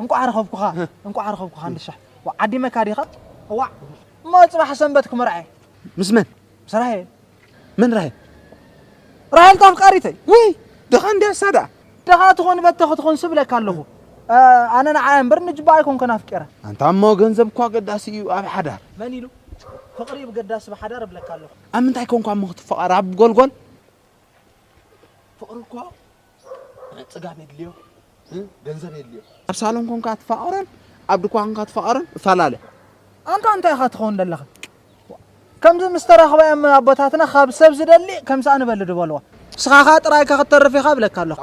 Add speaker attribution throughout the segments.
Speaker 1: እንቋዕ ረኸብኩኻ እንቋዕ ረኸብኩኻ ንሻሕ ዓዲ መካ ዲኻ እዋ እሞ ፅባሕ ሰንበት ክምርዓየ ምስ መን
Speaker 2: ምስ ራሄ
Speaker 1: መን ራሄ
Speaker 2: ራሄል
Speaker 1: ተፍቃሪተይ ውይ ድኻ
Speaker 2: እንዲያ እሳ ደኣ ድኻ ትኾን በተ
Speaker 1: ክትኾን ስብለካ ኣለኹ ኣነ ንዓያ እምበር ንጅባ ኣይኮንከን ኣፍቂረ ኣንታ እሞ ገንዘብ
Speaker 2: እኳ ኣገዳሲ እዩ ኣብ ሓዳር መን ኢሉ
Speaker 1: ፍቕሪ ብገዳሲ ብሓዳር እብለካ ኣለኹ ኣብ ምንታይ ኮንኳ እሞ
Speaker 2: ክትፈቐር ኣብ ጎልጎል ፍቕሪ እኮ ፅጋብ የድልዮ ገንዘብ የድልዮ ኣብ ሳሎን ኮንካ ትፋቐረን ኣብ ድኳ ኮንካ ትፋቐረን እፈላለ ኣንታ እንታይ
Speaker 1: ኢኻ ትኸውን ዘለኻ ከምዚ ምስ ተራኽባዮም ኣቦታትና ካብ ሰብ ዝደሊ ከም ሳእ ንበሊ ድበልዋ ስኻኻ ጥራይካ ክትተርፍ ኢኻ ብለካ ኣለኹ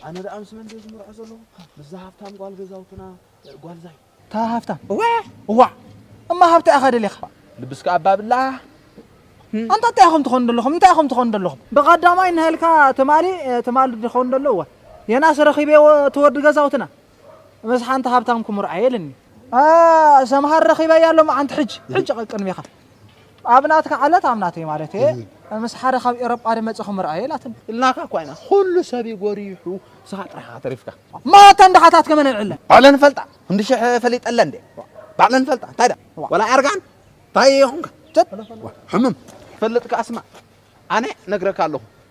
Speaker 1: ኣነ ደኣ
Speaker 2: ምስ መን ዘዝምርዖ ዘለኹ ምስዛ ሃብታም ጓል ገዛውትና ጓልዛይ እታ ሃፍታም እዋእ
Speaker 1: እዋእ እማ ሃብታ ኢኻ ደሊኻ ልብስካ እባ
Speaker 2: ብላህ።
Speaker 1: ኣንታ እንታይ ኢኹም ትኾኑ ደለኹም እንታይ ኢኹም ትኾኑ ደለኹም ብቀዳማይ ንሀልካ ትማሊ ትማሊ ድኾኑ ደሎ እወ የናስ ረኺበዮ እቲ ወዲ ገዛውትና ምስ ሓንቲ ሃብታም ክምርዖ እየ እልኒ። ኣኣ ሰምሃር ረኺበያ ሎሚ ዓንቲ ሕጂ ሕጂ ቅድሜኻ። ኣብ ናትካ ዓለት ኣብ ናተይ ማለትየ ምስ ሓደ ካብ ኤሮጳ ድመጽ ክምርኣየ ኢላትኒ። ኢልናካ እኳ ኢና
Speaker 2: ኩሉ ሰብ እዩ ጎሪሑ ንስኻ ጥራሕ ኢኻ ተሪፍካ። ማራ እተን ድኻታት
Speaker 1: ከመን ኣልዕለን? ባዕለን ይፈልጣ ክንዲ
Speaker 2: ሽሕ ፈሊጠለን እንዴ ባዕለን ይፈልጣ እንታይ ድኣ ወላ ኣርጋን እንታይ ኮንካ ሕምም ትፈልጥ ከኣ ስማዕ ኣነ ነግረካ ኣለኹ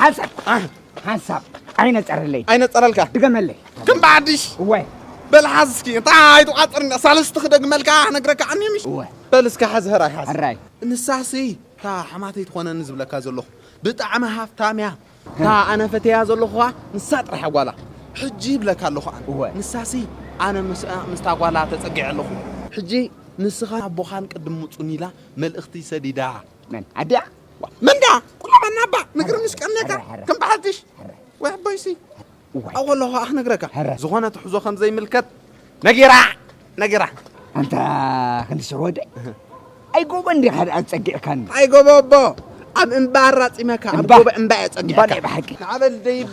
Speaker 3: ሓንሳብ ሓንሳብ ኣይነፀረለይ ኣይነፀረልካ ድገመለይ
Speaker 2: ከም
Speaker 3: ብዓዲሽ
Speaker 2: እወ በል
Speaker 3: ሓዝ እስኪ እንታ
Speaker 2: ኣይትቋፅር ሳልስቲ ክደግመልካ ክነግረካ ዓኒ ምሽ እወ በል እስካ ሓዝ ህራይ ሓዝ ሕራይ ንሳሲ
Speaker 3: እታ
Speaker 2: ኣሕማተይ ትኾነኒ ዝብለካ ዘለኹ ብጣዕሚ ሃፍታም እያ እታ ኣነ ፈቴያ ዘለኹ ኸኣ ንሳ ጥራሓ ጓላ ሕጂ ይብለካ ኣለኹ ኣነ እወ ንሳሲ ኣነ ምስኣ ምስታ ጓላ ተጸጊዐ ኣለኹ። ሕጂ ንስኻን ኣቦኻን ቅድም ምጹኒ ኢላ መልእኽቲ ሰዲዳ። መን ኣዲኣ
Speaker 3: ዋእ መን ድኣ
Speaker 2: ቁላማና እባ ንግርምሽ ቀኒካ ከም በዓል ፊሽ ወይ ኣቦይሲ። እዋይ ኣብኡ ከለኹ ከኣ ክነግረካ ሕረ። ዝኾነ ትሕዞ ከም ዘይምልከት ነጊራ ነጊራ ኣንታ
Speaker 3: ክንዲ ሽሮወደይ ኣይ ጎቦ እንዲኻ ደኣ ጸጊዕካኒ ኣይ ጎቦ ኣቦ
Speaker 2: ኣብ እምባ ኣራጺመካ ኣብ እምባ። ጎቦ እምባ እየ እምባ ናይ ጸጊዕካ ብሓቂ ንዓበል
Speaker 3: ደይብ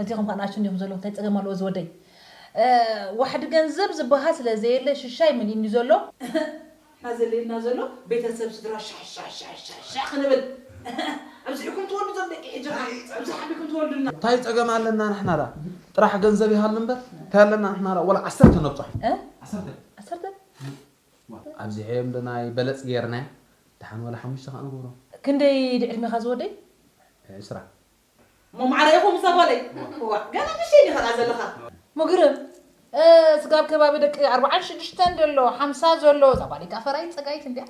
Speaker 4: ኣዚኹም ከኣ ንኣሽቱ እንዲኹም ዘለኹም ታይ ጸገም ኣለዎ ዝወደይ ዋሕዲ ገንዘብ ዝባሃል ስለ ዘየለ ሽሻይ መሊእኒ ዘሎ። እህህ እህህ ዘልየና ዘሎ ቤተሰብ ስድራ ሻሕሻሕሻሕሻሕ ክንብል እህህ ኣብዚሕኩም ትወልዱ ዞም ደቂ ሕጂ ከኣ ኣብዚሕ ኣቢልኩም ትወልዱልና። ታይ ጸገም ኣለና
Speaker 2: ንሕና ደኣ ጥራሕ ገንዘብ ይሃሉ እምበር ታይ ኣለና ንሕና ደኣ ወላ ዓሰርተ ነብጻሕ ዓሰርተ ዓሰርተ ኣብዚሐዮም ዶ ናይ በለጽ ጌርናያ ደሓን ወላ ሓሙሽተ ከኣ ንግብሮም። ክንደይ ድዩ ዕድሜኻ
Speaker 4: ዝወደይ? ዕስራ።
Speaker 2: እሞ
Speaker 4: ማዕረ ኢኹም እዛ ጓለይ እዋእ ገና ንእሽተይ ዲኻ ደኣ ዘለኻ። መግርም እ ስጋ ኣብ ከባቢ ደቂ ኣርብዓን ሽዱሽተን ደሎ ሓምሳ ዘሎ እዛ ጓለይ ከኣ ፈራይት ጸጋይት እንድያ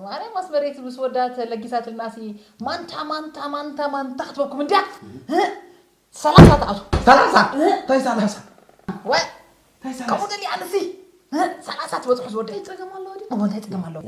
Speaker 4: ማርያም ኣስመረይቲ ምስ ወዳ ተለጊሳትልናሲ ማንታ ማንታ ማንታ ማንታ ክትበኩም እንድያ እ ሰላሳ ትኣቱ ሰላሳ እንታይ ሰላሳ ወይ እንታይ
Speaker 2: ከምኡ ሰላሳ ደልያ
Speaker 4: ኣነሲ እ ሰላሳ ትበጽሑ ዝወደይ ጸገም ኣለዎ ድዩ እሞ እንታይ ጸገም ኣለዎ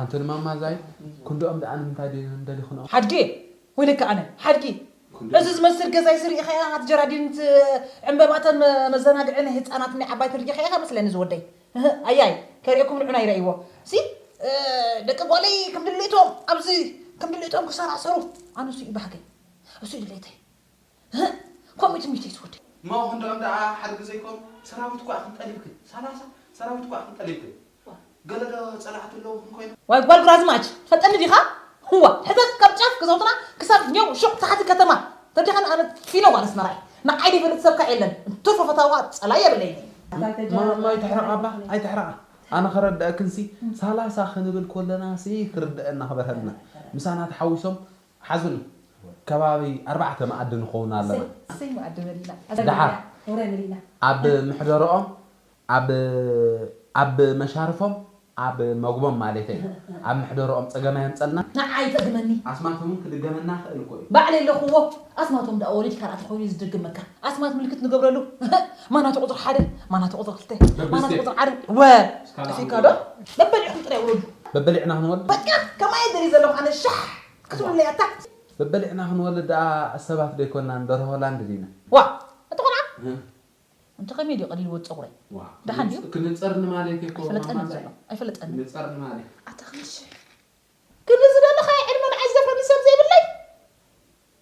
Speaker 3: ኣንተ
Speaker 2: ንማማ ዛይ ክንድኦም ደኣ ንምንታይ ድዮም ደሊክንኦም። ሓድጌ ወይለካ
Speaker 4: ኣነ ሓድጊ እዚ ዝመስል ገዛ እዚ ሪኢኻ ኢኻ ኣቲ ጀራዲን እቲ ዕንበባ እተ መዘናግዒ ናይ ህጻናት ናይ ዓባይቲ ሪኢኻ ኢኻ መስለኒ ዝወደይ እህ ኣያይ ከሪኤኩም ንዑና ይረእይዎ ሲ ደቂ ጓለይ ክምድሌቶም ኣብዚ ክምድሌቶም ክሰራሰሩ ኣነ እሱ እዩ ባህገይ እሱ እዩ ድሌተይ ከምኡ ትምኒተይ ትወደይ። ማኦ ክንድኦም ደኣ
Speaker 2: ሓድጊ ዘይኮኑ ሰራዊት ኳዕ ክንጠልብክን ሰላሳ ሰራዊት ኳዕ ክንጠልብክን ገለ ዶ ጸላእቲ ኣለዉክን ኮይኖም። ዋይ ጓል ግራዝማች
Speaker 4: ትፈልጠኒ ዲኻ እዋ ሕተት ካብ ጫፍ ገዛውትና ክሳብ ኘው ሹቕ ታሕቲ ከተማ ተዲኻኒ ኣነ ፊኖ ጓል ኣስመራ እየ ንዓይ ደይፈልጥ ሰብ ከኣ የለን እንትርፎ ፈታዊ ከኣ ጸላኢ የብለይን ማማ
Speaker 2: ኣይትሕረቃ እባ ኣይትሕረቃ ኣነ ክረደኣክንሲ ሳላሳ ክንብል ኮለናሲ ክርደኣና ክበርሀልና ምሳና ተሓዊሶም ሓዝን ከባቢ ኣርባዕተ መኣዲ ንኸውን ኣለና።
Speaker 4: ደሓር ኣብ
Speaker 2: ምሕደርኦም፣ ኣብ ኣብ መሻርፎም፣ ኣብ መግቦም ማለተይ፣ ኣብ ምሕደርኦም ጸገም ኣየምጸልና። ንዓይ ይጸግመኒ።
Speaker 4: ኣስማቶም ውን ክድገመና
Speaker 2: ይኽእል እኮ እዩ። ባዕለይ ኣለኹዎ።
Speaker 4: ኣስማቶም ድኣ ወሊድካ ርኣ ተኾይኑ እዩ ዝድገመካ። ኣስማት ምልክት ንገብረሉ። ማናቱ ቁጽሪ ሓደ፣ ማናቱ ቁጽሪ ክልተ፣ ማናቱ ቁጽሪ ዓረብ ወ። እዚካ ዶ በበሊዕኩም ጥራይ ውረዱ በበሊዕና ክንወልድ በቃ
Speaker 2: ከማይ ደልዩ
Speaker 4: ዘለኹ ኣነ ሻሕ ክትብሉለይ ኣታ በበሊዕና ክንወልድ
Speaker 2: ደኣ ሰባት ዶ ኣይኮናን ደርሆ ላንድ ዲና። ዋእ እቲ
Speaker 4: ቆልዓ እንተ ከመይ ድዩ ቀዲድዎ ጸጉረይ ደሓን ድዩ ኣይፈለጠንን ዘሎ
Speaker 2: ኣይፈለጠንን
Speaker 4: ኣታ
Speaker 2: ክንዲ ሽሕ
Speaker 4: ክንዲ ዝደለኻዮ ዕድመ ንዓይ ዝደፍረኒ ሰብ ዘይብለይ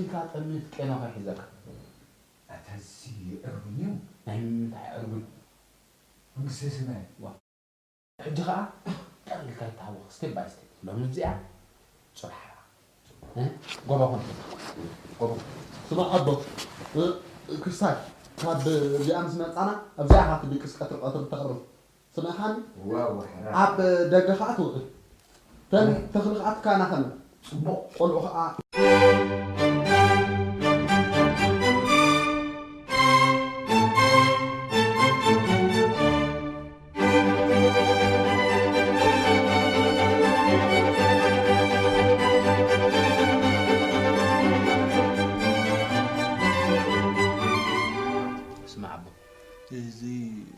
Speaker 2: ኢልካ ጠምት ቄኖ ከይሕዘካ። ኣታ
Speaker 3: እዚ ዕርጉን እዩ። ናይ ምምንታይ
Speaker 2: ዕርጉን መንግስተ
Speaker 3: ሰማያት።
Speaker 2: ሕጂ ከኣ ጠቅ ኢልካ ይተሃወኽ step by step ሎሚ እዚኣ ጽባሕ ሓራ እ ጎቦ ኩን ጎቦ ኩን። ስማዕ ኣቦ ክስታይ ካብ እዚኣ ምስ መጻና ኣብዚኣ ኢካ ትድቅስ ቀትሪ ቀትሪ ተቅርብ ስነኻን
Speaker 3: ኣብ ደገ
Speaker 2: ኸኣ ትውዕል ተን ተኽሊ ኸኣ ትካናኸን ጽቡቕ ቆልዑ ኸኣ። ስማዕ ኣቦ እዚ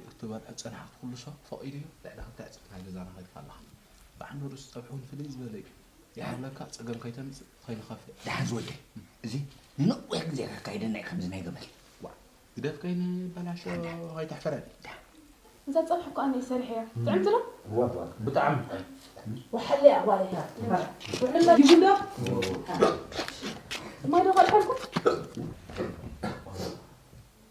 Speaker 2: ክትበልዖ ዝጸናሕኩ ኩሉ ሰብ ፈቒዱ እዩ፣ ልዕሊ ክልተ ዕጽፊ ናይ ገዛና ከፊልካ ኣለኻ። ብዓንደ ርእሱ ጸብሒ እውን ፍልይ ዝበለ እዩ። ይሓልወካ፣ ጸገም ከይተምጽእ፣ ከይንኸፍእ። ደሓን ዝወደይ፣
Speaker 3: እዚ ንነዊሕ ግዜ ከካይደና እዩ ከምዚ ናይ ገመል። ዋእ ግደፍ
Speaker 2: ከይንበላሾ ከይተሕፍረኒ። እዛ ጸብሒ እኮ ኣነ እየ ሰሪሐያ ጥዕምቲ ዶ? እወ
Speaker 5: እወ ብጣዕሚ ጥዕምቲ። ወሓለ እያ ጓለይ ሓፍቲ
Speaker 3: መርዓ
Speaker 4: ውዕል መዲቡ
Speaker 5: ዶ? ማይ ዶ ከልሐልኩም?